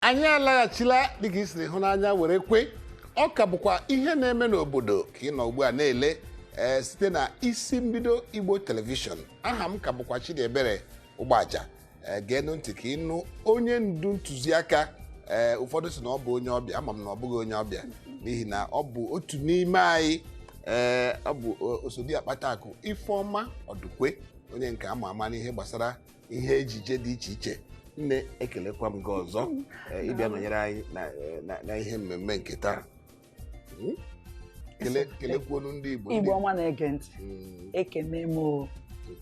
anyị alaghachila dịka i siri hụ n'anya were kwe ọ ka bụkwa ihe na-eme n'obodo ka ị nọ ugbu a na-ele ee site na isi mbido igbo telivishọn aha m ka bụkwa chidiebere ụgbaja ee geenụ ntị ka ị nụ onye ndu ntụziaka ee ụfọdụ sị na ọ bụ onye ọbịa ama m na ọ bụghị onye ọbịa n'ihi na ọ bụ otu n'ime anyị ee ọ bụ o- osodi akpatakụ ifeọma ọdụkwe onye nke ama ama n'ihe gbasara ihe ejije dị iche iche nne ekelekwa m gị ọzọ eh, ịbịa nọnyere anyị na, eh, na, na ihe mmemme nke taa Hmm? Kele- kelekwuonu ndị igbo ndị- igbo ọma na-ege ntị Mm, ekene m o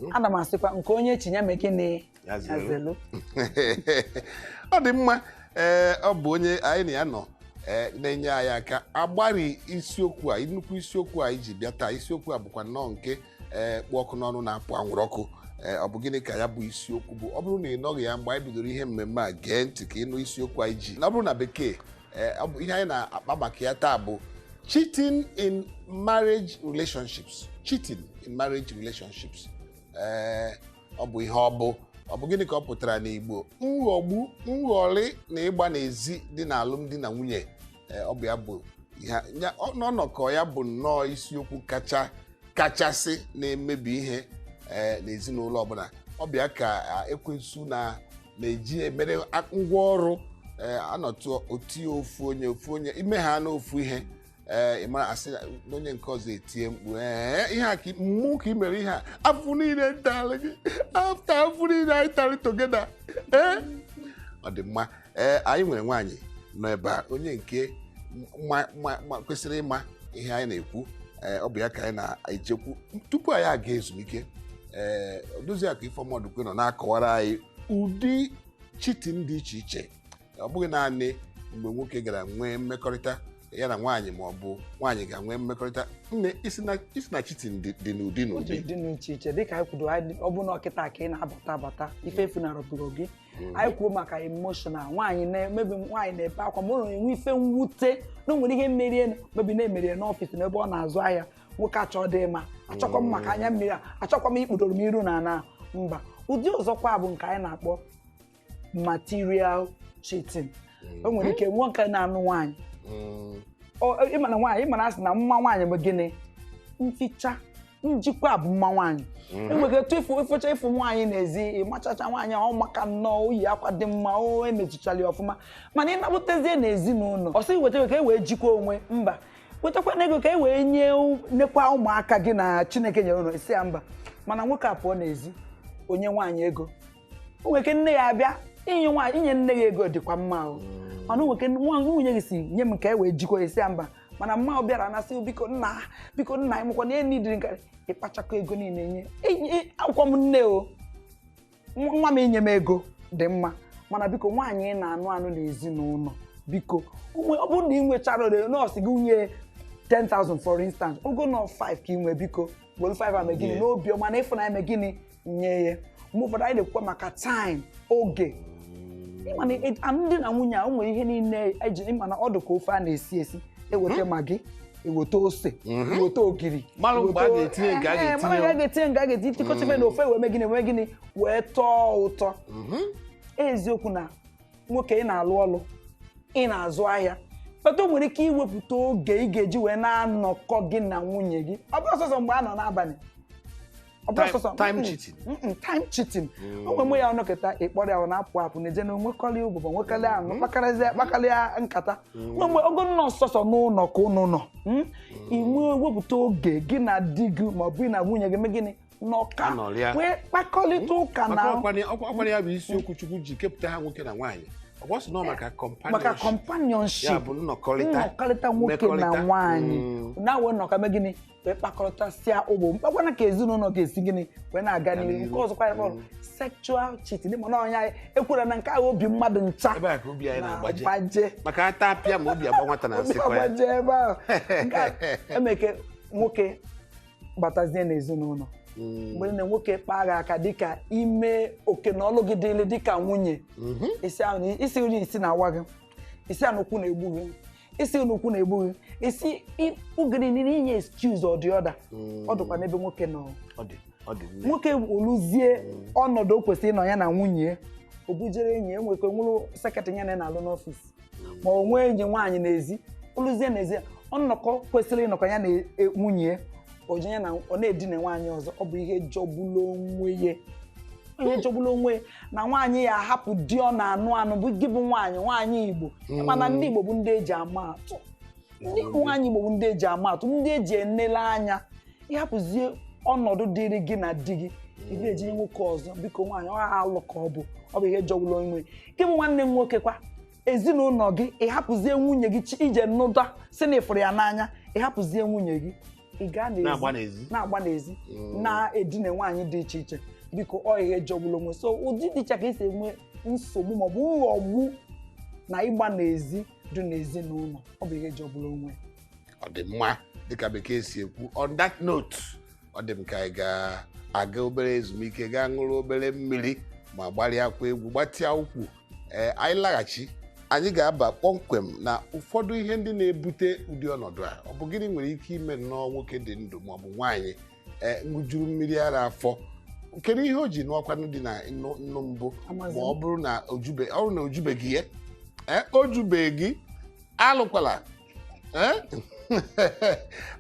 mhm. ana m asịkwa nke onye chi ya mee gịnị Ya ya zere. zelu ọ dị mma ee ọ bụ onye anyị na ya nọ ee, na-enye anyị aka agbari isiokwu a nnukwu isiokwu anyị ji bịa taa isiokwu a bụkwa nnọọ nke ee kpụ ọkụ n'ọnụ na-apụ anwụrụ ọkụ ee ọ bụ gịnị ka ya bụ isiokwu bụ ọ bụrụ na ị nọghị ya mgbe anyị bidoro ihe mmemme a gee ntị ka ị nụ isiokwu anyị ji na ọ bụrụ na bekee ee ọ bụ ihe anyị na-akpa maka ya taa bụ cheating in marriage relationships cheating in marriage relationships ee ọ bụ ihe ọ bụ ọ bụ gịnị ka ọ pụtara n'igbo nghọgbu nghọrị na ịgba n'ezi dị n'alụmdi na nwunye Ee, ọ bụ ya bụ ihe a- ya- ọ- n'ọnọkọ ya bụ nnọọ isiokwu kacha kachasị na-emebi ihe ee, n'ezinụlọ ọbụla ọ bụ ya ka a, ekwensu na na-eji emere a- ngwa ọrụ ee, anọtụ otie ofu onye ofu onye ime ha na ofu ihe ee, ị mara asị na onye nke ọzọ etie mkpu ee ihe a ka mmụ ka i mere ihe a afụfụ niile m talị gị after afụfụ niile anyị tarị together ee ọ dị mma ee anyị nwere nwaanyị nọ ebe a onye nke ma- ma- ma- kwesịrị ịma ihe anyị na-ekwu ee ọ bụ ya ka anyị na-ejekwu tupu anyị aga ezumike ee Odoziakụ Ifeoma Odukwe nọ na-akọwara anyị ụdị cheating dị iche iche ọ bụghị naanị mgbe nwoke gara nwee mmekọrịta ya na nwaanyị ma ọ bụ nwaanyị gaa nwee mmekọrịta nne ị sị na- ị sị na cheating dị dị n'ụdị Otu n'ụdị dị n'iche iche dịka anyị kwuru anyị- ọ bụ na ọ kịta ka ị na-abata abata ife efunarọbụrụ gị hmm. anyị kwuo maka emotional nwaanyị maybe nwaanyị na-ebe akwa ma ọ na-enwe ife mwute na o nwere ihe merie maybe na-emerie n'office n'ebe ọ na-azụ ahịa nwoke achọdị ịma achọkwa m maka anya mmiri a achọkwa m ikpudoro m iru n'ana mba ụdị ọzọkwa bụ nke anyị na-akpọ material cheating o nwere ike nwoke na-anụ nwaanyị ị mana nwaanyị ị mana a sị na mma nwaanyị bụ gịnị mficha njikwa bụ mma nwaanyị mhm. enwere etu ịfụ ịfụcha ịfụ nwaanyị n'ezi ịmachacha nwaanyị ahụ maka nnọọ o yi akwa dị mma o emechichara ya ọfụma mana ị nabatazie n'ezinụlọ ọ sị weta ka e wee jikwa onwe mba wetakwa na ego ka e wee nye nekwa ụmụaka gị na chineke nyere ụnụ ị sị ya mba mana nwoke a pụọ n'ezi o nye nwaanyị ego o nwere ike nne ya abịa i nye nwaanyị i nye nne ya ego dịkwa mma o mm. mana o nwere ike nwunye gị sị nye m ka e wee jikwa ị sị ya mba mana mma ọ bịara na-asị biko nna biko nna anyị mụkwa na enyi dịrị nkarị ịkpachakọ ego niile nye abụkwa m nne o nwa m inye m ego dị mma mana biko nwaanyị ị na-anụ anụ n'ezinụlọ biko ọ bụrụ na ị nwecharọ na ọ sị gị nye 10,000 for instance ọ bụ nnọọ 5 ka ị nwee biko were 5 a mee gịnị n'obiọma na ịfụnanya mee gịnị nye ya mgbe ụfọdụ anyị na-ekwukwa maka time oge ịma na e- alụmdi na nwunye a o nwere ihe niile eji ịma na ọ dị ka ofe a na-esi esi eweta magi eweta ose eweta ogiri Mara mgbe a eweta- ga-etinye nke a Ehe, ga-etinye. mara mgbe a ga-etinye nke a ga-etinye tikọchebe na ofe wee mee gịnị wee gịnị wee tọọ ụtọ eziokwu na nwoke ị na-alụ ọlụ ị na-azụ ahịa but o nwere ike iwepụta oge ị ga-eji wee na-anọkọ gị na nwunye gị ọ bụrọ sọsọ mgbe a nọ n'abalị Ọ bụrọ Time- sọsọ- time Mm-mm. cheating. Mm-mm, time cheating o nwe mgbe ị ya-anọkata ị kpọrọ ya ọ na-apụ apụ na-eje na-enwekọrị ụbụbọ nwekarị anụ kpakarịa kpakarịa nkata nwe mgbe ọ bụ nnọọ sọsọ n'ụlọ ka ụnụ nọ mm? i wee wepụta oge gị na di gị ma ọ bụ gị na nwunye gị mee gịnị nọkọọ Anọrịa. wee kpakọrịta ụka na Maka ọkwanye- ọkwa- ọkwanye ya bụ isiokwu chukwu ji kepụta ha nwoke na nwaanyị ọ kwa sị na ọ maka maka companionship companionship ya bụ nnọkọrịta nnọkọrịta nwoke na mmekọrịta. nwaanyị Mm. wee nọkọọ mee gịnị wee kpakọrịtasịa ụbụbọ kpakwanụ ka ezinụlọ ga-esi gịnị wee na-aga Ga n'ihu n'ihu. nke ọzọkwa ihe a kpọrọ Mm. sexual cheating dị mana ọnya ekwere na nke ahụ obi mmadụ ncha ebe a ka obi anyị na-agbaje na-agbaje maka ata apịa ma obi agba nwata na obi asịkwa ya agbaje ebe ahụ Nke a emeke nwoke batazie n'ezinụlọ Mm, mgbe na nwoke kpaa gị aka dịka ime oke na ọlụ gị dịrị dịka nwunye mhm. ị sị ahụ na- ị sị na isi na-awa gị ị sị na ukwu na-egbu gị ị sị na ukwu na-egbu gị ị sị ọ gịnị niile i nye excuse or the other ọ dịkwa n'ebe nwoke nọ Ọ dị ọ dị nne. nwoke o luzie ọnọdụ o kwesịrị ịnọ ya na nwunye ya o bujere enyi ya enwekọ nwụrụ secretary ya na ya na-alụ n'office ma o nwee enyi nwaanyị n'ezi o luzie n'ezi ọnọkọ kwesịrị ịnọkọ ya na e- nwunye ya o ji ya na ọ na-edina nwaanyị ọzọ ọ bụ ihe jọgburu onwe ya ihe jọgburu onwe ya na nwaanyị ya-ahapụ di ọ na-anụ anụ bụ gị bụ nwaanyị nwaanyị igbo mana ndị igbo bụ ndị eji ama atụ ndị nwaanyị igbo bụ ndị eji ama atụ ndị eji enele anya ị hapụzie ọnọdụ dịrị gị na di gị ị bujere nwoke ọzọ biko nwaanyị ọ alụ ka ọ bụ ọ bụ ihe jọgburu onwe gị bụ nwanne m nwoke kwa ezinụlọ gị ịhapụzie nwunye gị chi- ije nụda si na ịfụrụ ya n'anya ịhapụzie nwunye gị ị gaa na-agba n'ezi Mm. na-edina nwaanyị dị iche iche biko ọ ihe jọgburu onwe so ụdị dị iche ka esi enwe nsogbu maọbụ nghọgbu na ịgba n'ezi dị n'ezinụlọ ọ bụ ihe jọgburu onwe ọ dị mma dịka bekee si ekwu on that note ọ dị m ka anyị ga-aga obere ezumike gaa ṅụrụ obere mmiri ma gbarịakwa egwu gbatịa ụkwụ ee anyị laghachi anyị ga-aba kpọmkwem na ụfọdụ ihe ndị na-ebute ụdị ọnọdụ a ọ bụ gịnị nwere ike ime nnọọ nwoke dị ndụ ma ọ bụ nwaanyị ee ṅụjuru mmiri ara afọ kedu ihe o ji nụọkwanụ di na nnu nnu mbụ ma Amazi m. ọ bụrụ na o jube ọ bụrụ na o jubeghị ya ee o jubeghị alụkwala ee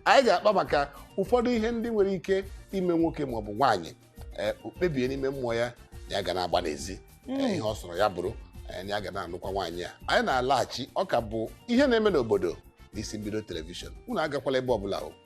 anyị ga-akpa maka ụfọdụ ihe ndị nwere ike ime nwoke maọbụ nwaanyị ee, o kpebie n'ime mmụọ ya na ya ga na-agba n'ezi Ee, ihe ọ sọrọ ya bụrụ ee, na ya ga na-anụkwa nwaanyị a anyị na-alaghachi ọ ka bụ ihe na-eme n'obodo n'isi mbido telivishọn unu agakwala ebe ọbụla o